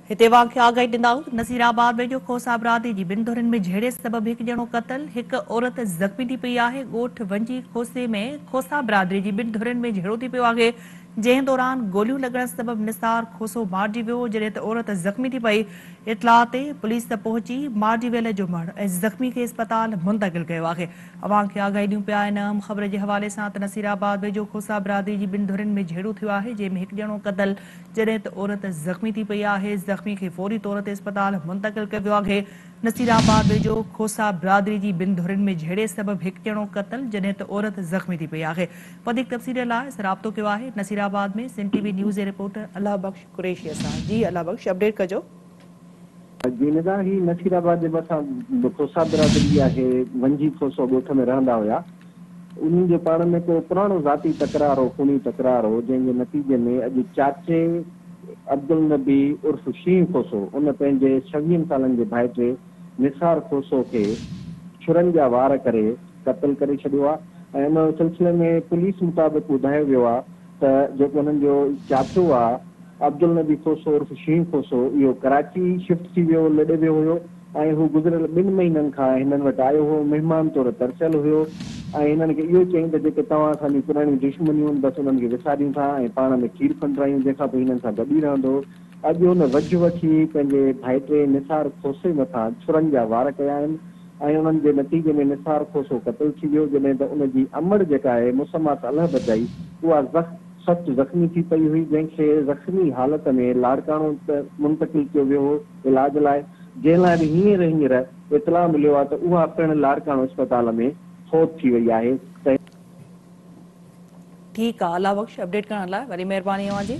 هتي اوهان کي آگاهي ڏندائون نصير آباد ۾ جو کوسا برادري جي ٻن ڌرين ۾ جهيڙي سبب هڪ ڄڻو قتل، هڪ عورت زخمي ٿي پئي آهي. ڳوٺ ونجي کوسي ۾ کوسا برادري جي ٻن ڌرين ۾ جهيڙو ٿي پيو آهي، جنهن دوران گوليون لڳڻ سبب نثار کوسو مارجي ويو، جڏهن ته عورت زخمي ٿي پئي، اطلاع تي پوليس پهچي مارجي ويل جو مڙهه ۽ زخمي کي اسپتال منتقل ڪيو آهي. اوهان کي آگاهي ڏيون پيا ان اهم خبر جي حوالي سان ته نصير آباد ويجهو کوسا برادري جي ٻن ڌرين ۾ جهيڙو ٿيو آهي، جنهن ۾ هڪ ڄڻو قتل، جڏهن ته عورت زخمي ٿي پئي آهي، زخمي کي فوري طور تي اسپتال منتقل ڪيو ويو آهي، نصير آباد ويجهو کوسا برادري جي ٻن ڌرين ۾ جهيڙي سبب هڪ ڄڻو قتل جڏهن ته عورت زخمي ٿي پئي آهي، وڌيڪ تفصيلن لاء اسان رابطو ڪيو آهي Naseerabad ۾ Sindh T V news جي رپورٽر الله بخش قريشيء سان جي الله بخش اپڊيٽ ڪجو. جي نگاهه هي نصير آباد جي ڀرسان به کوسا برادري آهي، ونجهي کوسو ڳوٺ ۾ رهندا هيا، انهن جو پاڻ ۾ ڪو پراڻو ذاتي تڪرار هو، خوني تڪرار هو، جنهن جي نتيجي ۾ اڄ چاچي عبدالنبي عرف شينهن کوسو ان پنهنجي ڇويهن سالن جي ڀائٽي نثار کوسو کي ڇرن جا وار ڪري قتل ڪري ڇڏيو آهي ۽ ان سلسلي ۾ پوليس مطابق ٻڌايو ويو آهي ته جيڪو هنن جو چاچو آ عبدالنبي کوسو عرف شينهن کوسو اهو ڪراچي شفٽ ٿي ويو لڏي ويو هيو ۽ هو گذريل ٻن مهينن کان هنن وٽ آيو هو مهمان طور ترسيل هيو ۽ هنن کي اهو چيائين ته جيڪي توهان اسان جون پراڻيون دشمنيون بس انهن کي وساريون ٿا ۽ پاڻ ۾ کير کنڊ رايون جنهن کان پوء هنن سان گڏ ئي رهندو اڄ هن وجهه وٺي پنهنجي ڀائٽي نثار کوسي مٿان ڇرن جا وار ڪيا آهن ۽ انهن جي نتيجي ۾ نثار کوسو قتل ٿي ويو، جڏهن ته ان جي امڙ جيڪا آهي مسميٰ صالح بجائي، اها زخ سخت زخمي ٿي پئي هئي، جنهن کي زخمي حالت ۾ لاڙڪاڻو منتقل ڪيو ويو هو علاج لاء، جنهن لاء به هينئر هينئر اطلاع مليو آهي ته اها پڻ لاڙڪاڻو اسپتال ۾ فوت ٿي وئي آهي ته. ٺيڪ آ الله بخش اپڊيٽ ڪرڻ لاء وري مهرباني اوهان جي.